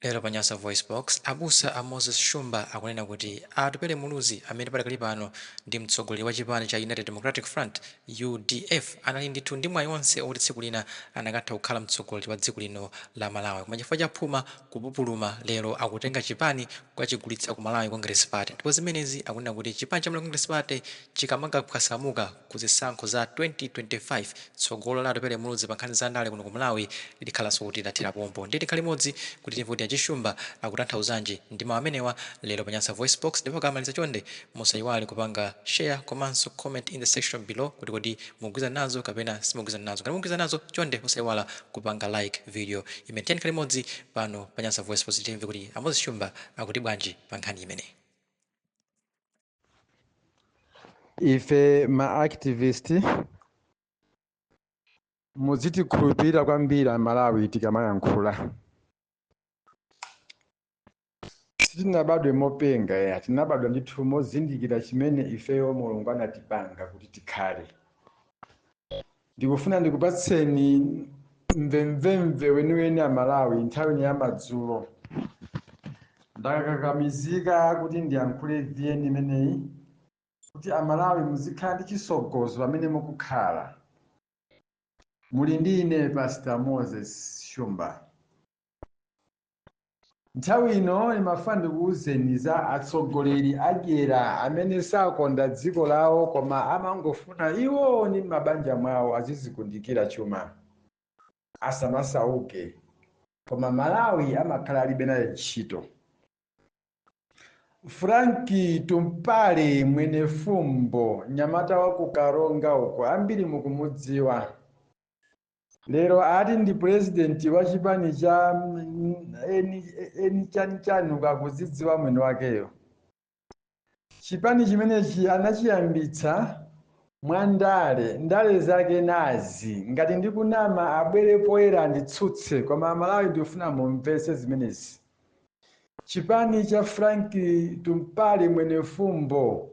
Lero pa Nyasa VoiceBox, abusa a Moses Shumba akunena kuti a Atupele Muluzi amene padakali pano ndi mtsogoleri wa chipani cha United Democratic Front, udf, anali ndithu ndi mwayi onse oti tsiku lina anakatha kukhala mtsogoleri wa dziko lino la Malawi koma chifukwa cha phuma, kupupuluma, lero akutenga chipani kukachigulitsa ku Malawi Congress Party ndipo zimenezi akunena kuti chipani cha Malawi Congress Party chikamakaphwasamuka, ku zisankho za 2025, tsogolo la Atupele Muluzi pa nkhani za ndale kuno ku Malawi likhalanso kuti lathera pompo. Ndiye tikhale limodzi kuti timve kuti a Shumba akutanthauzanji ndi mawu amenewa lero pa Nyasa VoiceBox ndipo akamaliza chonde musayiwale kupanga Share komanso Comment in the section below kuti kodi mukugwizana nazo kapena simukugwizana nazo. Ngati mukugwizana nazo chonde osayiwala kupanga like video imeneyi. Tiyeni tikhale limodzi pano pa Nyasa VoiceBox kuti timve kuti a Moses Shumba akuti bwanji pa nkhani imeneyi. ife ma activist muzitikhulupirira kwambiri amalawi tikamayankhula sitinabadwe mopenga ya tinabadwa ndithu mozindikira chimene ifeyo mulungu anatipanga kuti tikhale Ndikufuna ndikupatseni mvemvemve weniweni a Malawi nthawi ino ya madzulo. Ndakakamizika kuti ndiyankhule vn imeneyi kuti a Malawi muzikhala ndi chisogozo pamene mukukhala. Muli ndi ine Pastor Moses Shumba. Nthawi ino ndimafuna ndikuuzeni za atsogoleri adyera amene sakonda dziko lawo koma amangofuna iwo ndi m'mabanja mwawo azizikundikira chuma, asamasauke koma Malawi amakhala alibe naye ntchito. Frank Tumpale Mwenefumbo, mnyamata wa ku Karonga uko, ambiri mukumudziwa. lero ati ndi purezidenti wa chipani cha mm, eni eni chanichani ukakuzidziwa mwini wakeyo chipani chimenechi anachiyambitsa mwa ndale ndale zake nazi ngati ndikunama abwere poyera anditsutse koma amalawi ndikufuna mumvetse zimenezi chipani cha frank tumpale mwenefumbo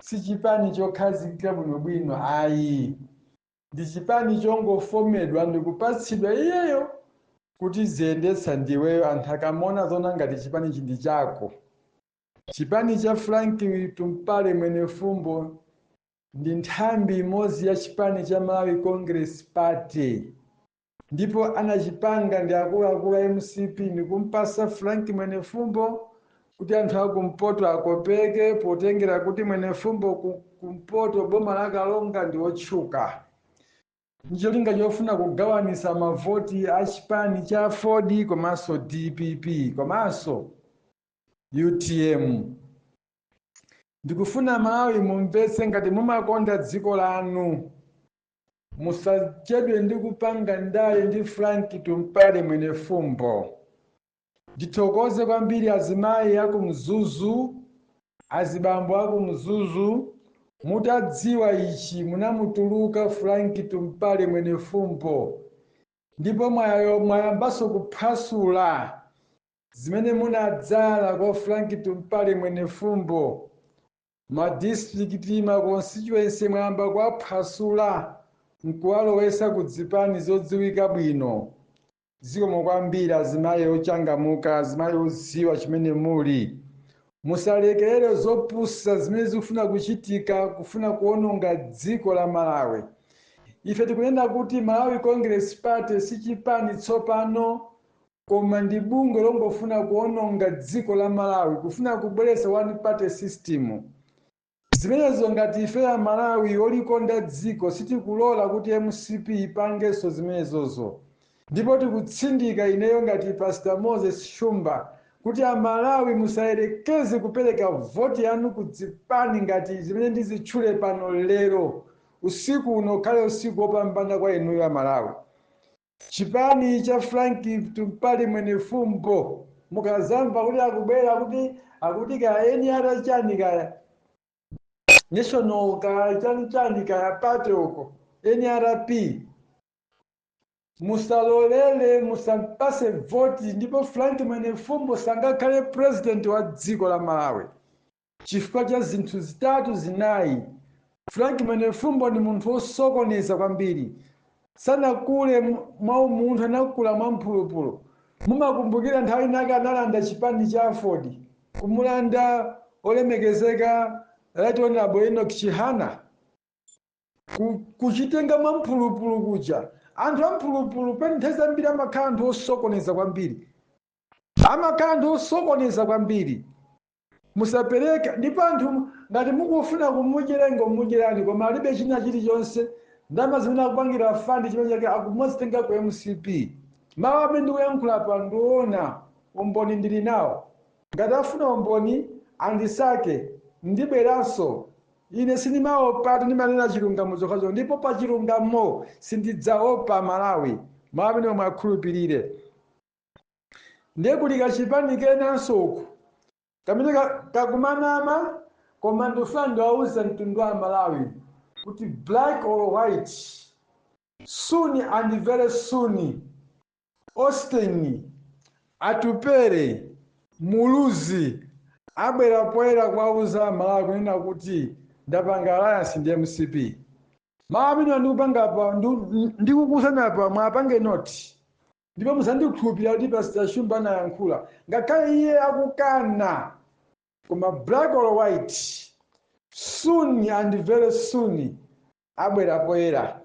si chipani chokhazikika bwinobwino ayi ndi chipani chongofomedwa ndikupatsidwa iyeyo kuti ziyendetsa ndiweyo anthu akamaona aziona ngati chipani chi ndi chako chipani cha frank tumpale mwenefumbo ndi nthambi imodzi ya chipani cha malawi congress party ndipo anachipanga ndi akuluakulu a mcp nikumpasa frank mwenefumbo kuti anthu akumpoto akopeke potengera kuti mwenefumbo ku- kumpoto boma la karonga ndi otchuka ndicholinga chofuna kugawanisa mavoti a chipani cha aford komanso dpp komanso utm ndikufuna malawi mumvetse ngati mumakonda dziko lanu musachedwe ndi kupanga ndale ndi frank tumpale mwenefumbo ndithokoze kwambiri azimayi aku mzuzu azibambo aku mzuzu mutadziwa ichi munamutuluka frank tumpale mwenefumbo ndipo mwayo- mwayambanso kuphwasula zimene munadzala kwa frank tumpale mwenefumbo Ma district ma constituency mwayamba kuwaphwasula nkuwalowesa ku dzipani zodziwika bwino. Zikomo kwambiri azimayi ochangamuka, azimayi odziwa chimene muli. Musalekerere zopusa zimene zikufuna kuchitika kufuna kuononga dziko la Malawi. Ife tikunena kuti Malawi Congress Party sichipani tsopano koma ndi bungwe longofuna kuononga dziko la Malawi kufuna kubweretsa one party system zimenezo ngati ife a Malawi olikonda dziko sitikulola kuti mcp ipangenso zimenezozo ndipo tikutsindika ineyo ngati pastor Moses Shumba kuti a Malawi musayerekeze kupereka voti yanu ku dzipani ngati zimene ndizitchule pano lero usiku uno ukhale usiku opambana kwa inuyo a Malawi Chipani cha Frank Tumpale Mwenefumbo mukazamva kuti akubwera kuti akuti kaya NR chani kaya national kaya chani chani kaya party uko NRP musalolere musampase voti ndipo Frank Mwenefumbo sangakhale president wa dziko la Malawi Chifukwa cha zinthu zitatu zinayi, Frank Mwenefumbo ndi munthu wosokoneza kwambiri. Sanakule mwa umunthu, anakula mwa mphulupulu. Mumakumbukira nthawi inake analanda chipani cha aford, kumulanda olemekezeka Right Honourable Enock Chihana? Ku, kuchitenga mwa mphulupulu kuja. Anthu a mphulupulu pena nthawi zambiri amakhala anthu osokoneza kwambiri. Amakhala anthu osokoneza kwambiri. musapereke ndipo anthu ngati mukufuna kumudyera ingomudyerani koma alibe china chilichonse ndalama zimene akupangira fund chimene chake akumazitenga ku mcp mawu amene ndikuyankhulapa ndi oona umboni ndili nawo ngati afuna umboni andisake ndibweranso ine sindimaopatu ndimanena chilungamo chokhachokha ndipo pa chilungamo sindidzaopa amalawi mawu amenewa muwakhulupirire ndiye kuli kachipani kenanso uku kamene ka- kakumanama koma ndofuna ndiwauze mtundu wa malawi kuti black or white soon and very soon austin atupere muluzi abwera poyera kuwauza amalawi kunena kuti ndapanga alliance ndi mcp mawu amene ndikupanga apa ndikukuuzani apa mwapange noti ndipo mudzandikhulupirira kuti pastor shumba anayankhula ngakhale iye akukana koma black or white soon and very soon abwera poyera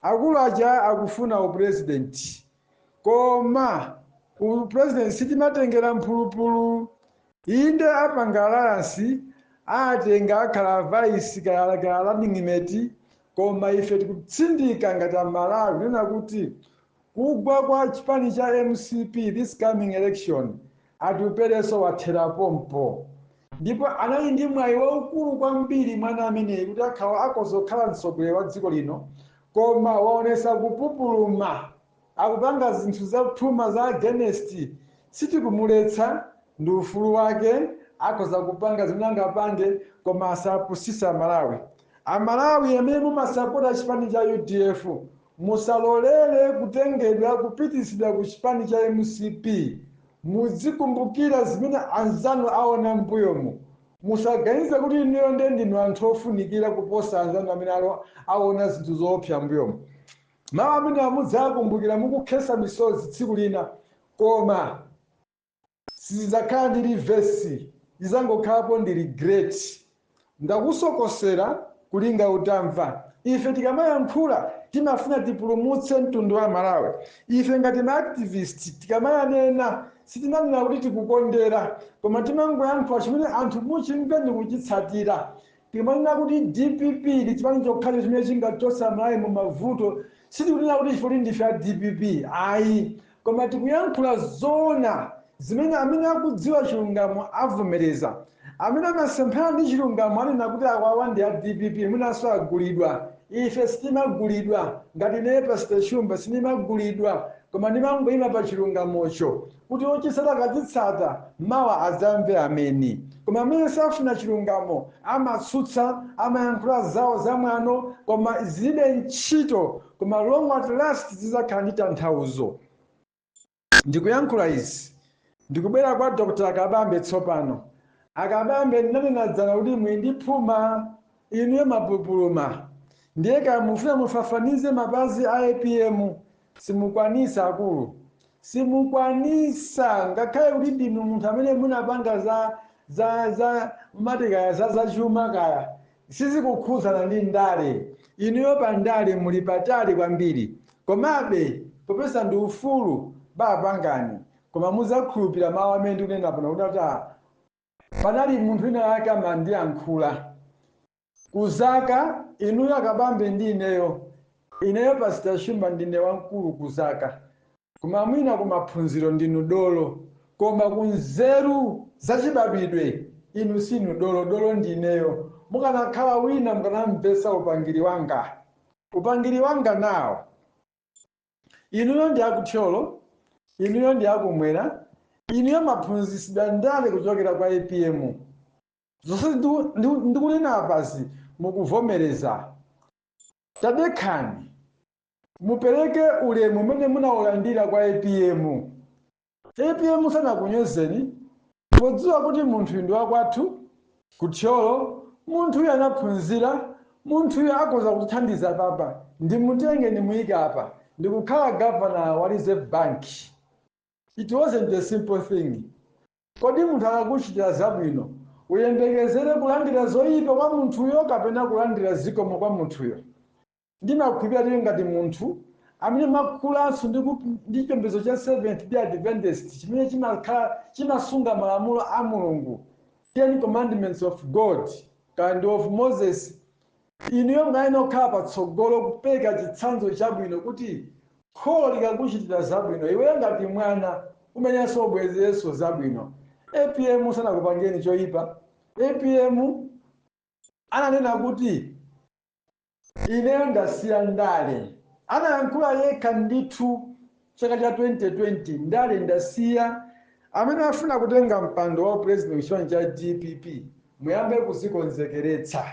akulu aja akufuna upresident koma upresident sitimatengera mphulupulu inde apanga alliance atenga akhala vice akhala akhala running mate koma ife tikutsindika ngati amalawi kunena kuti Kugwa kwa chipani cha mcp this coming election Atuperenso wathera pompo ndipo anali ndi mwayi waukulu kwambiri mwana ameneyi kuti akhala akhoza kukhala mtsogoleri wa dziko lino koma waonesa kupupuluma akupanga zinthu za phuma za against sitikumuletsa ndi ufulu wake akhoza kupanga zimene angapange koma asapusise amalawi amalawi amene mumasapota chipani cha udf Musalolere kutengedwa kupititsidwa ku chipani cha mcp, mudzikumbukira zimene anzanu aona mmbuyomu. Musaganize kuti inuyo nde ndinu anthu ofunikira kuposa anzanu amene aonaona zinthu zoopsa mmbuyomu. Mawu amenewa mudzawakumbukira mukukhesa misozi tsiku lina koma. Sizidzakhala ndi reverse idzangokhalapo ndi regret ndakusokosera kulinga utamva ife tikamayankhula timafuna tipulumutse mtundu wa Malawi ife ngati ma activist tikamanena sitimanena kuti tikukondera koma timangoyankhula chimene anthu muchimve ndikuchitsatira Timanena kuti dpp ndi chipani chokhacho chimene chingachotse Amalawi mu mavuto, sitikunena kuti chifukwa choti ndife a dpp ayi koma tikuyankhula zoona zimene amene akudziwa chilungamo avomereza. Amene amasemphana ndi chilungamo anena kuti awawa ndi a dpp mwinanso agulidwa. Ife sitimagulidwa, ngati ineyo Pastor Shumba sindimagulidwa koma ndimangoima pa chilungamocho. kuti otitsata akadzatsata mawa adzamve ameni koma amene safuna chilungamo amatsutsa amayankhula zawo zamwano koma zilibe ntchito koma long at last zidzakhala ndi tanthauzo ndikuyankhula izi ndikubwera kwa dr akabambe tsopano akabambe ndinanena dzana kuti muli ndi phuma inuyo mwapupuluma ndiye kaya mufuna mufafanize mapazi a apm Simukwanisa akulu simukwanisa ngakhale kuti ndinu munthu amene munapanga za za za mumati kaya za zachuma kaya sizikukhudzana ndi ndale inuyo pa ndale muli patali kwambiri komabe popeza ndi ufulu bapangani koma muzakhulupirira mawu amene ndikunena pano kuti a panali munthu wina wake amandiyankhula Ku zaka, inuyo akabambe ndi ineyo, ineyo pastor Shumba ndine wamkulu ku zaka koma mwina ku maphunziro ndinu dolo koma ku nzeru za chibadwidwe inu sinu dolo, dolo ndi ineyo. Mukanakhala wina mukanamvetsa upangiri wanga. Upangiri wanga nawo. Inuyo ndi a ku Thyolo, inuyo ndi a kumwera, inuyo mwaphunzitsidwa ndale kuchokera kwa apm? zonse ndiku- ndiku- ndikunena apazi mukuvomereza tadekhani mupereke ulemu umene munaulandira kwa apm apm sanakunyozeni podziwa kuti munthuyu ndi wakwathu ku thyolo munthuyu anaphunzira munthuyu akhoza kutithandiza papa ndimutenge ndimuyike apa ndikukhala gavana wa reserve bank it wasn't a simple thing Kodi munthu akakuchitira zabwino, uyembekezere kulandira zoipa kwa munthuyo kapena kulandira zikomo kwa munthuyo? Ndimakhulupirira kuti ngati munthu amene mwakulanso ndi chipembedzo cha Seventh Day Adventist chimene chimakhala chimasunga malamulo a Mulungu, Ten Commandments of God, kaya ndi of Moses, Inuyo munayenera kukhala patsogolo kupereka chitsanzo chabwino kuti kholo likakuchitira zabwino, iweyo ngati mwana umayeneranso ubwezerenso zabwino. Apm sanakupangireni choipa. Apm ananena kuti ineyo ndasiya ndale. Anayankhula yekha ndithu chaka cha 2020 ndale ndasiya amene afuna kutenga mpando wa upresident kuchipani cha dpp muyambe kuzikonzekeretsa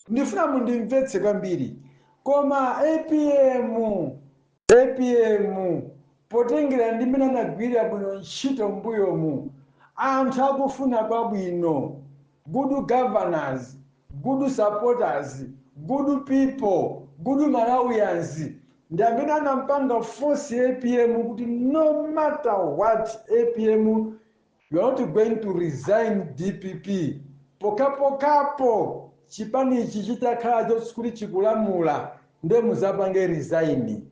ndifuna mundimvetse kwambiri koma apm apm potengera ndi mmene anagwirira bwino ntchito mbuyomu anthu akufuna kwabwino Good governors, good supporters, good people, good Malawians ndi amene anampanga force APM kuti no matter what APM you are not going to resign DPP pokhapokhapo chipanichi chitakhala choti chikulamula nde muzapange resign.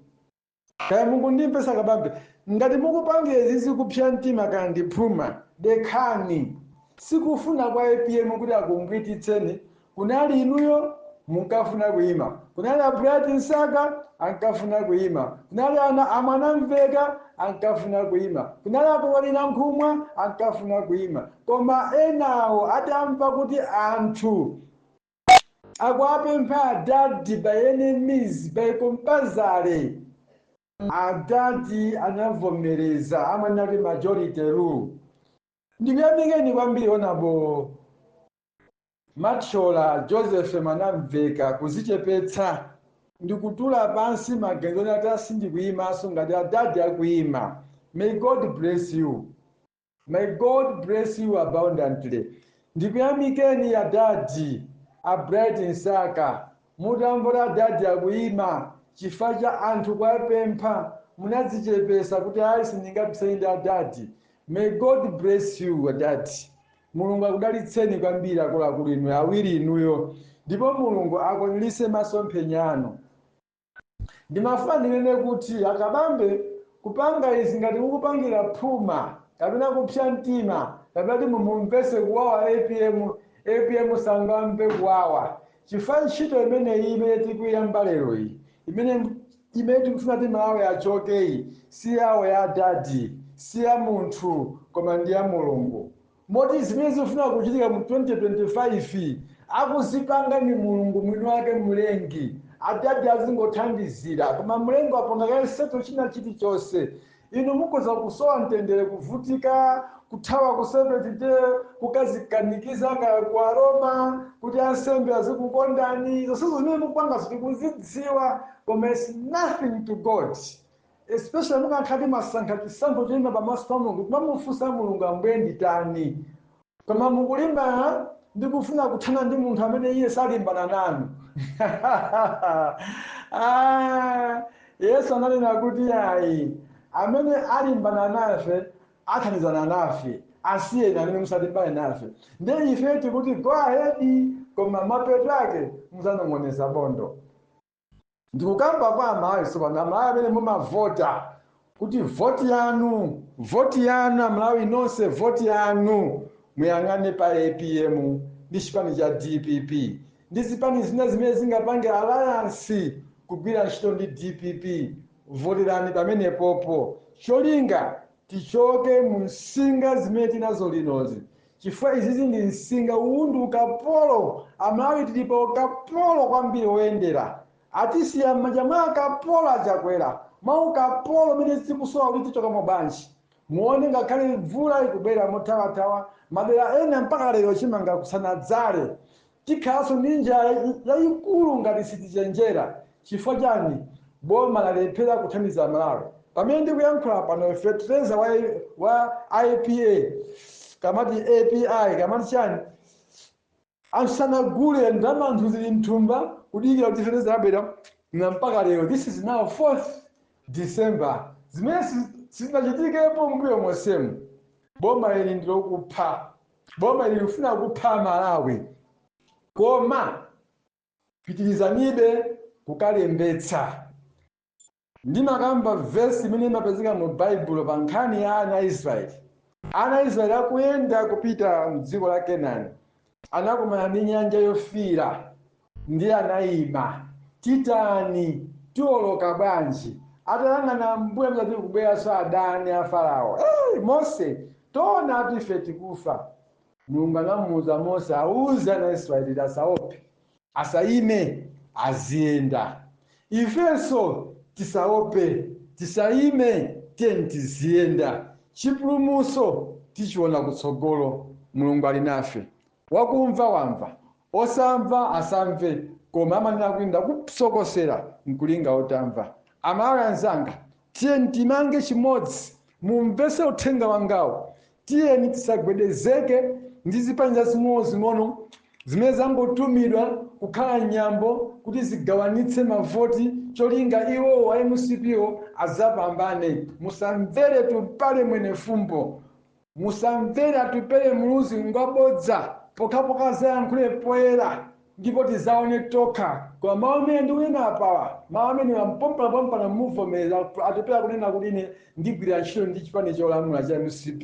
kaya mukundimvesa kabambe ngati mukupangira izizi kupsa mtima kaya ndi phuma dekhani sikufuna kwa apm kuti akumbwititseni kunali inuyo munkafuna kuima kunali a Bright Msaka ankafuna kuima kunali a Mwanamveka ankafuna kuima kunali a Kondwani Nankhumwa ankafuna kuima koma enawo atamva kuti anthu Akuwapempha adadi by any means by compulsory adadi anavomereza panali majority rule ndikuyamikeni kwambiri honorable Mathyola joseph mwanamveka kuzichepetsa ndikutula pansi maganizo oti ati sindikuyimanso ngati adadi akuyima may god bless you May God bless you abundantly. Ndikuyamikeni adadi a Bright Msaka. Mutamva adadi akuyima chifukwa cha anthu kuwapempha munadzichepesa kuti ayi sindingapisane ndi adadi. May God bless you adadi. Mulungu akudalitseni kwambiri akuluakulu inu awiri inuyo ndipo Mulungu akwaniritse masomphenya anu. Ndimafuna ndinene kuti a Kabambe kupanga izi ngati mukupangira phuma kapena kupsa mtima kapena kuti mumumvese kuwawa apm, apm sangamve kuwawa chifukwa ntchito imeneyi imene tikuyiyamba lero iyi imene tikufuna kuti Malawi achokeyi si yawo ya adadi si ya munthu koma ndi ya Mulungu. Moti zimene zikufuna kuchitika mu 2025 akuzipanga ndi Mulungu mwini wake Mlengi. Adadi azingothandizira. Koma Mlengi wapanga kale settle china chilichonse. Inu mukhoza kusowa mtendere, kuvutika, kuthawa ku Seventh Day, kukazikanikiza kaya ku Aroma kuti ansembe azikukondani. Zonsezo zimene mukupangazo tikuzidziwa koma it's nothing to God. Especially mukanakhala kuti mwasankha chisankho choyima pamaso pa Mulungu kumamufunsa Mulungu Ambuye nditani? Koma mukulimbana ndi kufuna kuthana ndi munthu amene iye salimbana nanu. Yesu ananena kuti ayi amene alimbana nafe athandizana nafe asiyeni amene musalimbane nafe ndiye ife tikuti go ahead koma mapeto ake muzanong'oneza bondo Ndikukamba kwa amalawi sopano amalawi amene mumavota kuti vote yanu vote yanu amalawi nonse vote yanu muyang'ane pa apm ndi chipani cha dpp ndi zipani zina zimene zingapange alliance kugwira ntchito ndi dpp voterani pamenepopo cholinga tichoke mu nsinga zimene tinazo linozi chifukwa izizi ndi nsinga uwu ndi ukapolo amalawi tili pa ukapolo kwambiri woyendera atisiya m'manja mwa ukapolo a Chakwera mwa ukapolo umene tikusowa kuti tichokamo bwanji muone ngakhale mvula ikubwera mothawathawa madera ena mpaka lero chimanga kusanadzale Tikhalanso ndi njala yayikulu ngati sitichenjera. Chifukwa chani boma lalephera kuthandiza amalawi? Pamene ndikuyankhula pano fetereza wa IPA kamati API kamati chani anthu sanagule ndalama anthu zili mthumba kudikira kuti fetereza abwera na mpaka lero this is now 4th December zimene sizinachitikepo mbuyo monsemu. Boma ili ndilokupha. Boma ili likufuna kupha a Malawi koma pitilizanibe kukalembetsa. Ndimakamba verse imene imapezeka mu Baibulo pa nkhani ya ana a Israeli. Ana a Israeli akuyenda kupita m'dziko la Kenani anakumana ndi Nyanja Yofiira Ndiye anaima. Titani? Tiwoloka bwanji? Atayang'ana m'mbuyo amaona kuti kukubweranso adani a Farao. Mose! Taonatu ife tikufa. Mulungu anamuuza Mose auze ana Israeli kuti asaope, asaime, aziyenda. Ifenso tisaope, tisaime, tiyeni tiziyenda. Chipulumutso tichiona kutsogolo. Mulungu ali nafe. Wakumva wamva, Osamva asamve koma amanena kuti ndakusokosera nkulinga utamva. Amalawi anzanga tiyeni timange chimodzi mumvese uthenga wangawu tiyeni tisagwedezeke ndi zipani zazing'ono zing'ono zimene zangotumidwa kukhala nyambo kuti zigawanitse mavoti cholinga iwo a mcp wo azapambane. Musamvere Tumpale Mwenefumbo. musamvere atupele muluzi ngwabodza pokhapokha azayankhule poyera ndipo tizaone tokha koma mawu amene ndikunena apawa mawu amenewa mpompanapompana muvomereza atupele akunena kuti ine ndikugwira ntchito ndi chipani cholamula cha mcp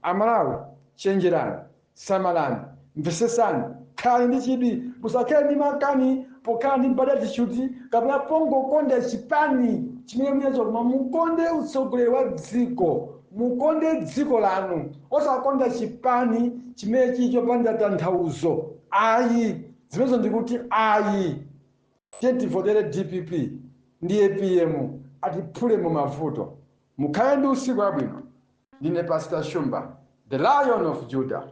amalawi chenjerani samalani Mvesesani, khalani ndi chidwi, musakhale ndi makani pokhala ndi bad attitude kapena pongokonda chipani chimene muli nacho koma mukonde utsogoleri wa dziko, mukonde dziko lanu, osakonda chipani chimene chili chopanda tanthauzo ayi. Zimenezo ndikuti ayi. Tivotere dpp ndi apm atiphule mu mavuto. Mukhale ndi usiku wabwino. Ndine Pastor Shumba, the Lion of Judah.